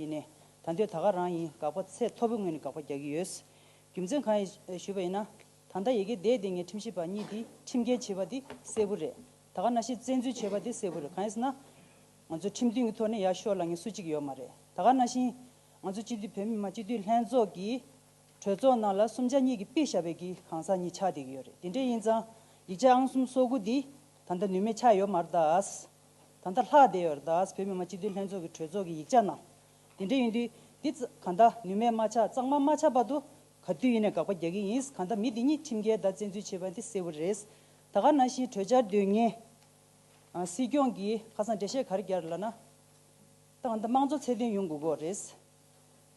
ཡིན། ད་འདོད་ད་ག་རང་ཡིན་དགག་པ་ཚད་མཐོ་པོའི་ངོས་ནས་དགག་པ་རྒྱག་གི་ཡོད། རྒྱུ་མཚན་གང་ཡིན་ཞུས་པ་ཡིན་ན། ད་ལྟ་ཡི་གེ་བདེ་བདེ་ངས་ཁྲིམས་ཞིབ་པ་གཉིས་འདིས་ཁྲིམས་འགལ་བྱས་པ་འདི་གསལ་བོ་རེད། ད་ག་ན་ཤེས་བཙན་འཛུལ་བྱས་པ་འདི་གསལ་བོ་རེད་གང་ཡིན་ཟེར་ན། ང་ཚོ་ཁྲིམས་མཐུན་གྱི་ཐོག་ནས་ཡར་ཤོག་ལ་ངས་སུ་གཅིག་ཡོད་མ་རེད་ད་ག་ན་བཞིན། ང་ཚོ་སྤྱི་འཐུས་བོད་མི་མང་སྤྱི་འཐུས་ལྷན་ཚོགས་ཀྱི་གྲོས་ཚོགས་ནང་ལ་གསུམ་ཆ་གཉིས་ཀྱི་དཔེ་ཞབས་པའི་གི་གང་ཟག་གཉིས་ཆགས་བསྡད་ཀྱི་ཡོད་རེད་དེ་འདྲས་ཡིན་ཙང་ཡིག་ཆ་ཨང་གསུམ་སོ་དགུ་འདི་ད་ལྟ་ནུས་མེད་ཆགས་ཡོད་མ་རེད་དཱ། ད་ལྟ་ལྷག་བསྡད་ཡོད་རདའས་བོད་མི་མང་སྤྱི་འཐུས་ལྷན་ཚོགས་ཀྱི་གྲོས་ཚོགས་ཀྱི་ཡིག་ཆ་ནང། དེ་འདྲ་ཡིན་དུས་འདི་གང་ལྟ་ནུས་མེད་མ་ཆགས་གཙང་མ་མ་ཆགས་བར་དུ། ག་དུས་ཡིན་ནས་དགག་པ་རྒྱག་གི་ཡིན་གང་ལྟ་མི་འདི་གཉིས་ཁྲིམས་འགལ་བརྡ་བཙན་འཛུལ་བྱས་པ་འདི་གསལ་བོ་རེད། ད་ག་ནང་བཞིན་གྲོས་འཆར་འདོན་ངེས། སྲིད་སྐྱོང་གིས་ཁ་སང་འགྲེལ་བཤད་ག་རེ་རྒྱག་རེད་ལབ་ན། ད་གང་ལྟ་དམངས་གཙོ་ཚད་ལྡན་ཡོང་དགོས་དགོས་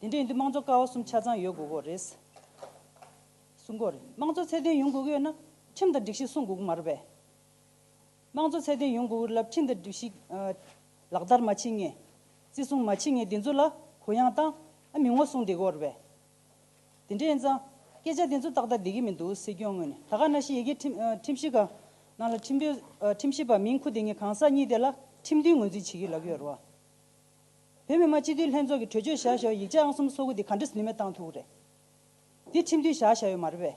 རེད། དེ་འདྲ་ཡིན་དུས་དམངས་གཙོ་ཀ་བ་གསུམ་ཆ་ཚང་ཡོད་དགོས་དགོས་རེད། སྲུང་དགོས་རེད་དམངས་གཙོ་ཚད་ལྡན་ཡོང་དགོས་ཀྱི་ཡོད་ན་ཁྲིམས་དང་སྒྲིག་གཞི་སྲུང་དགོས་ཀྱི་མ་རེད་པས། དམངས་གཙོ་ཚད་ལྡན་ཡོང་དགོས་རླབས་ཆེན་འདི་སྒྲིག་ཞིག། ལག་བསྟར་མ་བྱེད་ངེས། བརྩི་སྲུང་མ་བྱེད་ངེས་འདི་ཚོ་ལ་གུ་ཡངས་བཏང་ཨ་མི་ངོ་སྲུང་འདི་གོ་རེད། དེ་འདྲའི་ཨེན་ཙང། སྐད་ཆ་དེ་ཚོ་ཏག་ཏག་བསྡད་ཀྱི་མི་འདུག་སྲིད་སྐྱོང་ངོས་ནས་ད་ག་ན་ཤི་ཡི་གེ་ཁྲིམས་ཤིག་ག་ནང་ལ་ཁྲིམས་དོན་ཁྲིམས་ཞིབ་པ་མིང་ཁུ་དེ་ངས་གང་ཟག་གཉིས་དེ་ལ་ཁྲིམས་མཐུན་ངོས་འཛིན་བྱེད་ཀྱི་ལབ་ཡོད་རེད་བ། བོད་མི་མང་སྤྱི་འཐུས་ལྷན་ཚོགས་ཀྱི་གྲོས་ཆོད་བཞག་ཞོག་ཡིག་ཆ་ཨང་གསུམ་སོ་དགུ་དེ་ག་འདྲི་ནུས་མེད་བཏང་ཐུག་གི་རེད། དེ་ཁྲིམས་མཐུན་བཞག་བཞག་ཡོད་མ་རེད་བས།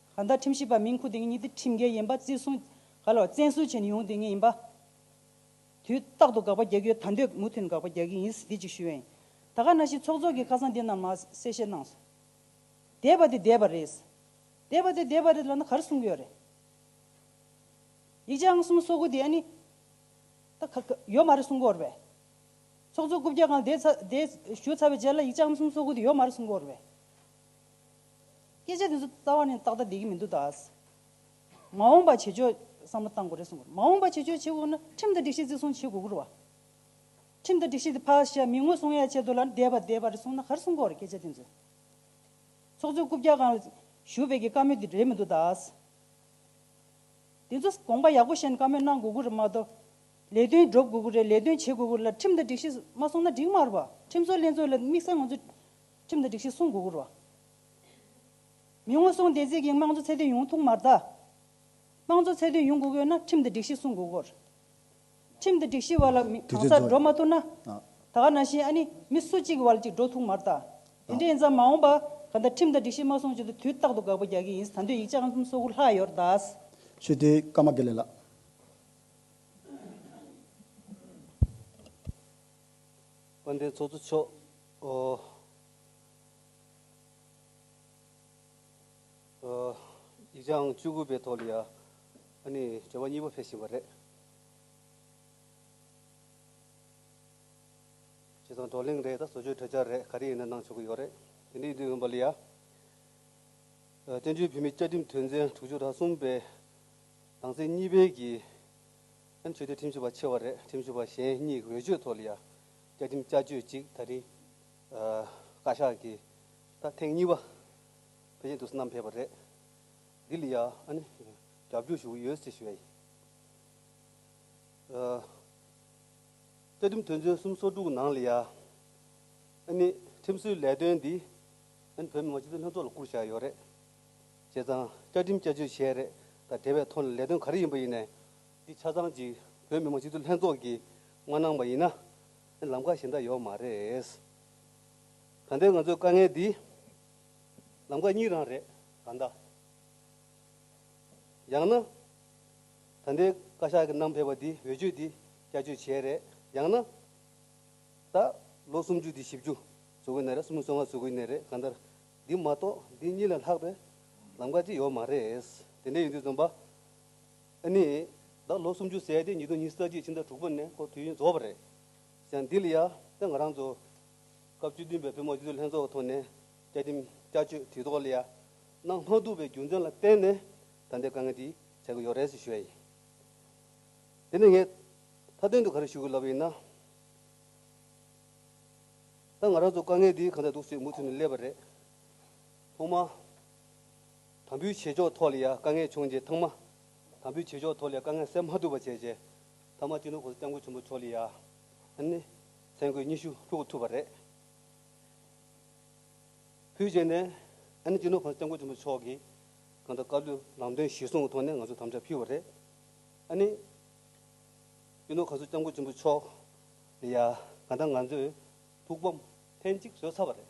ག་ཟླ་ཁྲིམས་ཞིབ་པ་མིང་ཁུར་དེ་ངེད་གཉིས་ཀྱི་ཁྲིམས་འགལ་ཡིན་པ་བརྩི་སྲུང་ག་ལ་བ་བཙན་བཟུང་བྱས་ནས་ཡོང་དེ་ངེད་ཡིན་པ། དུས་རྟག་ཏུ་དགག་པ་རྒྱག་གི་ཡོད་ད་འདོད་མུ་ཐུན་དགག་པ་རྒྱག་གི་ཡིན་ཟིན་བསྡད་ཅིག་ཞུ་ཡ་ཡིན་ད་ག་ན་ཞིག་ཚོགས་གཙོ་གི་ཁ་སང་འདི་ན་མ་གསལ་བཤད་གནང་སོང། འདས་པ་དེ་འདས་པ་རེད། འདས་པ་དེ་འདས་པ་རེད་ལབ་ན་གར་གསུང་གི་ཡོད་རེད། ཡིག་ཆ་ཨང་གསུམ་སོ་དགུ་དེ་ཨ་ནི། ད་ག་ག་ཡོད་མ་རེད་གསུང་གི་འོར་བས། ཚོགས་གཙོ་སྐུ་བརྒྱ་གང་བསྡད་ཚ་བསྡད་ཞུ་ཚར་བའི་རྗེས་ལ་ཡིག་ཆ་ཨང་གསུམ་སོ་དགུ་དེ་ཡོད་མ་རེད་གསུང་གི་འོར་བས། སྐད་ཆ་དེ་ཚོ་རྩ་བ་ནས་ཏག་ཏག་བསྡད་ཀྱི་མི་འདུག་ད། མ་འོངས་པ་བྱེད་ཕྱོགས་བསམ་བློ་གཏང་དགོས་རེད་གསུང་དགོས། མ་འོངས་པ་བྱེད་ཕྱོགས་བྱེད་དགོས་ན་ཁྲིམས་དང་སྒྲིག་གཞི་བརྩི་སྲུང་བྱེད་དགོས་ཀྱི་རུ་བ། ཁྲིམས་དང་སྒྲིག་གཞི་དེ་ཕར་བཤད་མི་ངོ་སྲུང་ཡ་བྱེད་དོ་ལ་ནི་བསྡད་པ་བསྡད་པ་རེད་གསུང་ན་ག་རེ་གསུང་དགོས་རེད་སྐད་ཆ་དེ་ཚོ། ཚོགས་གཙོའི་རྐུབ་བཀྱག་ཁང་ལ་བཞུགས་བས་ཀྱི་བཀའ་མོལ་དེ་རེད་མི་འདུག་ད། དེ་ཚོ་དགོངས་པ་ཡག་པོ་བཤད་ནས་བཀའ་མོལ་གནང་དགོས་ཀྱི་རེད་མ་གཏོགས། ལས་དོན་སྒྲུབ་དགོས་ཀྱི་རེད་ལས་དོན་བྱེད་དགོས་ཀྱི་རེད་ལ་ཁྲིམས་དང་སྒྲིག་གཞི་མ་སྲུང་ན་འགྲིག་མ་རུ་བ། ཁྲིམས་བཟོ་ལས་བཟོ་ལ་དམིགས་བསལ་ང་ཚོ། ཁྲིམས་དང་སྒྲིག་གཞི་སྲུང་དགོས་རོགས། མི་ངོ་སྲུང་བདེན་ཚིག་གིས་དམངས་གཙོ་ཚད་ལྡན་ཡོང་ཐུག་མ་རྡ། དམངས་གཙོ་ཚད་ལྡན་ཡོང་དགོས་ན་ཁྲིམས་དང་སྒྲིག་གཞི་སྲུང་དགོས་རོགས། ཁྲིམས་དང་སྒྲིག་གཞི་བར་ལ་མི་གང་སར་འགྲོ་མ་ཐུབ་ན། ད་ག་ན་བཞིན་ཨ་ནི་མི་སུ་གཅིག་གི་བར་ལ་གཅིག་འགྲོ་ཐུག་མ་རྡ། དེ་འདྲ་ཡིན་ཙང་མ་འོངས་པ་ག་ད་ཁྲིམས་དང་སྒྲིག་གཞི་མ་སྲུང་བྱུང་ཚེ་དུས་རྟག་ཏུ་དགག་པ་རྒྱག་གི་ཡིན་ད་འདོད་ཡིག་ཆ་ཨང་གསུམ་སོ་དགུ་ལྷག་ཡོད་ར་ད། ཤུལ་དེའི་སྐར་མ་དགེ་ལེགས་ལགས། དཔལ་ལྡན་ཚོགས་གཙོ་མཆོག། ཡིག་ཆའང་བཅུ་དགུ་པའི་ཐོག་ལ་ཡང་བྱ་བ་གཉིས་པ་འཕེལ་བཞིན་པ་རེད། བྱས་ཙང་བགྲོ་གླེང་རེད་དང་བཟོ་བཅོས་གྲོས་འཆར་རེད་ག་རེ་ཡིན་ན་གནང་ཆོག་གི་ཡོད་རེད། དེ་འདྲའི་དུས་ཡིན་པ་ལ་ཡང། བཙན་བྱོལ་བོད་མིའི་བཅའ་ཁྲིམས་དོན་ཚན་དྲུག་ཅུ་དང་གསུམ་པའི་ནང་ཚན་གཉིས་པའི་གིས། ཆོས་དད་ཁྲིམས་ཞིབ་པ་ཆེ་བ་རེད་ཁྲིམས་ཞིབ་པ་གཞན་གཉིས་ཀྱི་འོས་ཆོས་ཐོག་ལ་ཡང། བཅའ་ཁྲིམས་བསྐྱར་བཅོས་གཅིག་ད་རིང་བཀའ་ཤག་གིས་ད་ཐེངས་གཉིས་པ་ཕེབས་བཞིན་འདུག་བསྣམས་ཕེབས་པ་རེད། འདི་ལ་ཡང་རྒྱབ་སྐྱོར་ཞུ་གི་ཡོད་ཅེས་ཞུས་པ་ཡིན། བཅའ་ཁྲིམས་དོན་ཚན་གསུམ་སོ་དྲུག་ནང་ལ་ཡང་ཁྲིམས་བཟོའི་ལས་དོན་འདི་བོད་མི་མང་སྤྱི་འཐུས་ལྷན་ཚོགས་ལ་བསྐུར་བཞག་ཡོད་རེད། བྱས་ཙང་བཅའ་ཁྲིམས་བསྐྱར་བཅོས་བྱས་རེད་ད་དེ་བས་མཐོ་ལ་ལས་དོན་ག་རེ་ཡིན་པ་ཡིན་ནའི་འདི་ཆ་ཚང་གཅིག་བོད་མི་མང་སྤྱི་འཐུས་ལྷན་ཚོགས་ཀྱིས་མ་གནང་པ་ཡིན་ན། ལམ་ཁ་གཞན་དག་ཡོད་མ་རེད། གང་ལྟའི་ང་ཚོའི་དཀའ་ངལ་འདི། ལམ་ཁ་གཉིས་རང་རེད་གང་ལྟ། ཡང་ན། ད་ལྟའི་བཀའ་ཤག་གི་གནམ་ཕེབས་པ་འདི་འོས་ཆོས་འདི་བསྐྱར་བཅོས་བྱས་རེད་ཡང་ན། ད་ལོ་སུམ་ཅུ་འདི་བཞི་བཅུ་བཟོ་གི་ནས་རེད་སུམ་ཅུ་སོ་ལྔ་བཟོ་གི་ནས་རེད་གང་ལྟར། འདི་མ་གཏོགས་འདི་གཉིས་ལས་ལྷག་པའི་ལམ་ཁ་ཅིག་ཡོད་མ་རེད། དེ་འདྲས་ཡིན་དུས་རྩོམ་པ། ནི། བདག་ལོ་སུམ་ཅུ་ཟད་དེ་ཉིས་སྟོང་ཉིས་བརྒྱད་ཀྱི་ཕྱི་ཟླ་དྲུག་པ་ནས་ཁོ་དུས་ཡུན་རྫོགས་པ་རེད། ཞང་འདི་ལ་ཡ་ཏི་ང་རང་ཚོ། སྐབས་བཅུ་བདུན་པའི་བོད་མའོ་སྤྱི་འཐུས་ལྷན་ཚོགས་ཀྱི་ཐོག་ནས་བཅའ་ཁྲིམས་བསྐྱར་བཅོས་དུས་ཐོག་ལ་ཡ་གནང་མ་ཐུབ་པའི་རྒྱུ་མཚན་ལ་བརྟེན་ནས་ད་ལྟའི་དཀའ་ངལ་འདི་ཆགས་ཀྱི་ཡོད་རེད་ཟེར་ཞོར་ཡིན། དེ་ནི་ངས་མཐའ་དོན་དུ་ག་རེ་ཞུ་དགོས་ལབ་པ་ཡིན་ན། ད་ང་རང་ཚོ་དཀའ་ངལ་འདི་གང་ཚད་འདུག་ཟེར་མུ་མཐུད་ནས་སླེབས་པ་རེད། ཐོག་མ། དམ་འབུལ་བྱེད་ཕྱོགས་ཐོག་ལ་ཡང་དཀའ་ངལ་བྱུང་རྗེས་ཐང་མ། དམ་འབུལ་བྱེད་ཕྱོགས་ཐོག་ལ་ཡང་དཀའ་ངལ་སེལ་མ་ཐུབ་པ་བྱས་རྗེས་ཐང་མ་སྤྱི་འདོམས་ཁོངས་སུ་སྐྱབས་མགོན་ཆེན་པོ་མཆོག་ལ་ཡང། ནི། མཚན་གོས་ཉི་ཤུ་ཕུལ་ཐུབ་པ་རེད། ཕུལ་རྗེས་ནས། ནི་སྤྱི་འདོམས་ཁོངས་སུ་སྐྱབས་མགོན་ཆེན་པོ་མཆོག་གིས། གང་ལྟར་བཀའ་བློན་ལམ་སྟོན་གཞིར་བཟུང་གི་ཐོག་ནས་ང་ཚོར་དམ་བཅའ་ཕུལ་བ་རེད། ནི། སྤྱི་འདོམས་ཁོངས་སུ་སྐྱབས་མགོན་ཆེན་པོ་མཆོག་ལ་ཡང། གང་ལྟར་ང་ཚོས་ཐུགས་ཕམ་ལྷན་ཅིག་བཟོས་ཚར་བ་རེད།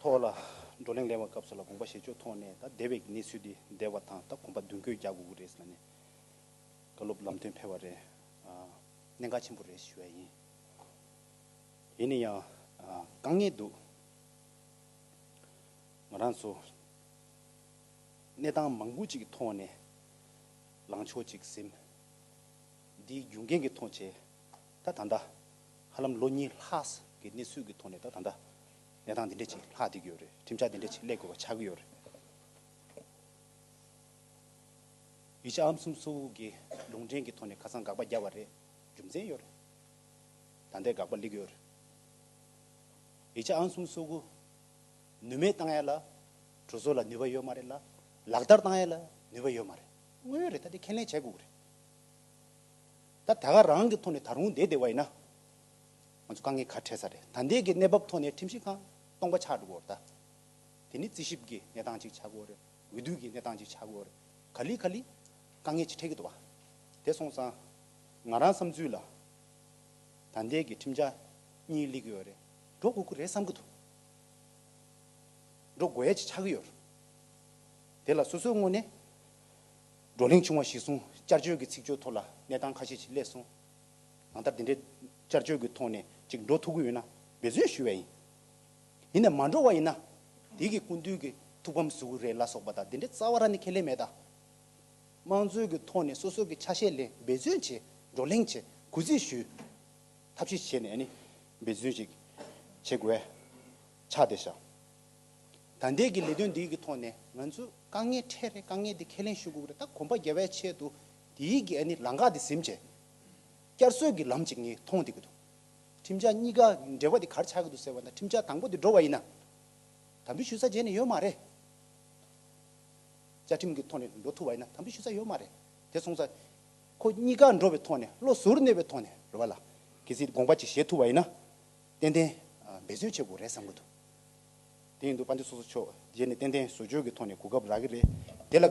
ཐོག་ལ་བགྲོ་གླེང་གླེང་བ་སྐབས་སུ་ལ་དགོངས་པ་བཞེས་ཕྱོགས་ཐོག་ནས་ད་སྡེ་བའི་གནས་ཚུལ་འདི་བདེ་བ་དང་ད་གོམ་པ་མདུན་སྐྱོད་རྒྱག་དགོས་ཀྱི་རེད་ཟེར་ན་ནས་བཀའ་སློབ་ལམ་སྟོན་ཕེལ་བ་རེད། གནད་འགག་ཆེན་པོ་རེད་ཞུ་བ་ཡིན། ཡིན་ནི་ཡང་དཀའ་ངལ་འདུག་ང་རང་ཚོ་གནས་སྟངས་མང་པོ་ཅིག་གི་ཐོག་ནས་ལངས་ཕྱོགས་ཅིག་ཟིན། འདིའི་རྒྱུ་འགན་གི་ཐོག་བྱས། ད་ད་ལྟ། ཧ་ལམ་ལོ་གཉིས་ལྷག་གི་གནས་ཚུལ་གྱི་ཐོག་ནས་ད་ད་ལྟ། གནས་སྟངས་འདི་འདྲ་ཅིག་ལྷག་བསྡད་ཀྱི་ཡོད་རེད། ཁྲིམས་འཆར་འདི་འདྲ་ཅིག་ཀླད་དགོས་པ་ཆགས་ཀྱི་ཡོད་རེད། ཡིག་ཆ་ཧམ་གསུམ་སོ་ཀྱི་ལུང་འདྲེན་གྱི་ཐོག་ནས་ཁ་སང་དགག་པ་རྒྱབ་པ་རེད། རྒྱུ་མཚན་ཡོད་རེད། ད་ལྟའི་དགག་པ་ལེགས་ཡོད་རེད། ཡིག་ཆ་ཧམ་གསུམ་སོ་ཀུ། ནུས་མེད་བཏང་ཡ་ལ། གྲོས་ཚོགས་ལ་ནུས་པ་ཡོད་མ་རེད་ལ། ལག་བསྟར་བཏང་ཡ་ལ་ནུས་པ་ཡོད་མ་རེད། དངོས་ཡོད་རེད་ད་དེ་ཁས་ལེན་བྱས་དགོས་ཀྱི་རེད། ད་ད་ག་རང་གི་ཐོག་ནས་ད་རུང་དེ་དེ་བ་ཡིན་ན། ང་ཚོ་དཀའ་ངལ་ག་འཕྲད་ས་རེད་ད་འདས་ཀྱི་གནས་བབ་ཐོག་ནས་ཁྲིམས་ཞིབ་ཁང་སྟོང་པ་ཆགས་འགྲོ་གོ་རེད་ད། དེ་ནི་རྩིས་ཞིབ་ཀྱི་གནས་སྟངས་ཅིག་ཆགས་གོ་རེད་འོས་བསྡུ་ཀྱི་གནས་སྟངས་ཅིག་ཆགས་གོ་རེད་ག་ལི་ག་ལི། དཀའ་ངལ་ཅིག་འཕྲད་ཀྱི་འདུག་བ་དེ་སོང་ཙང། ང་རང་བསམ་ཚུལ་ལ། ད་འདས་ཀྱི་ཁྲིམས་འཆར་གཉིས་བསླེབ་ཀྱི་ཡོད་རེད་འགྲོ་དགོས་ཀྱི་རེད་བསམ་གྱི་འདུག་འགྲོ་དགོས་ཡ་ཅིག་ཆགས་ཀྱི་ཡོད་རེད། དེ་ལ་སོ་སོའི་སྔོན་ནས། བགྲོ་གླེང་བྱུང་བ་གཞིར་བཟུང་བསྐྱར་བཅོས་ཀྱི་ཚིག་སྤྱོད་ཐོག་ལ་གནས་སྟངས་ཁ་ཤས་ཅིག་སླེབས་སོང། གང་ལྟར་འདི་འདྲའི་བསྐྱར་བཅོས་ཀྱི་ཐོག་ནས་ཅིག་འགྲོ་ཐུབ་ཀྱི་ཡོད་ན་འབད་བརྩོན་ཞུ་བས་ཡིན། ཡིན་ནས་མ་འགྲོ་བ་ཡིན་ན། དེ་གི་སྐུ་མདུན་གྱི་ཐུགས་ཕམ་ཟུག་རེད་ལ་སོགས་པ་དང་འདི་འདྲའི་རྩ་བ་ར་ནི་ཁས་ལེན་མེད་ད། དམངས་གཙོའི་གྱི་ཐོག་ནས་སོ་སོ་གྱི་ཆ་ཤས་ལེན་འབད་བརྩོན་བྱས་བགྲོ་གླེང་བྱས་གུས་བརྩི་ཞུས། ཐབས་ཤེས་བྱས་ནས་ནི་འབད་བརྩོན་ཅིག་བྱེད་དགོས། ཆ་དེ་བཞག། ད་འདས་ཀྱི་ལས་དོན་འདི་ཡིག་གི་ཐོག་ནས་ང་ཚོས་དཀའ་ངལ་འཕྲད་རེ་དཀའ་ངལ་འདི་ཁས་ལེན་ཞུ་དགོས་རེ་ད་གོམ་པ་རྒྱ་བའི་ཆེད་དུ་འདི་ཡིག་གི་ཨ་ནི་ལང་ཀ་འདི་ཟིན་རྗེས། བསྐྱར་གསོས་ཀྱི་ལམ་ཅིག་ངས་མཐོང་བསྡད་ཀྱི་འདུག་ཁྲིམས་འཆར་གཉིས་ཀ་འབྲེལ་བ་འདི་གར་ཆགས་ཀྱི་འདུག་ཟེར་བ་འདྲ་ཁྲིམས་འཆར་དང་པོ་འདི་འགྲོ་བ་ཡིན་ན། དམ་འབུལ་ཞུ་ས་རྗེས་ནས་ཡོད་མ་རེད། བཅའ་ཁྲིམས་ཀྱི་ཐོག་ནས་འགྲོ་ཐུབ་བ་ཡིན་ན་དམ་འབུལ་ཞུ་ས་ཡོད་མ་རེད། དེ་སོང་ཚ། ཁོ་གཉིས་ཀ་འགྲོ་བའི་ཐོག་ནས་བློ་ཟུར་གནས་པའི་ཐོག་ནས་རེ་བ་ལ། གལ་སྲིད་དགོངས་པ་ཅིག་བཞེས་ཐུབ་བ་ཡིན་ན། ཏན་ཏན། འབད་བརྩོན་བྱེད་དགོས་རེད་བསམ་གྱི་འདུག་དེ་ཡིན་དུས་དཔའ་འདི་སོ་སོ་ཆོས་རྗེས་ནས་ཏན་ཏན་བཟོ་བཅོས་ཀྱི་ཐོག་ནས་གོ་སྐབས་རག་གི་རེད་དེ་ལ་དགའ།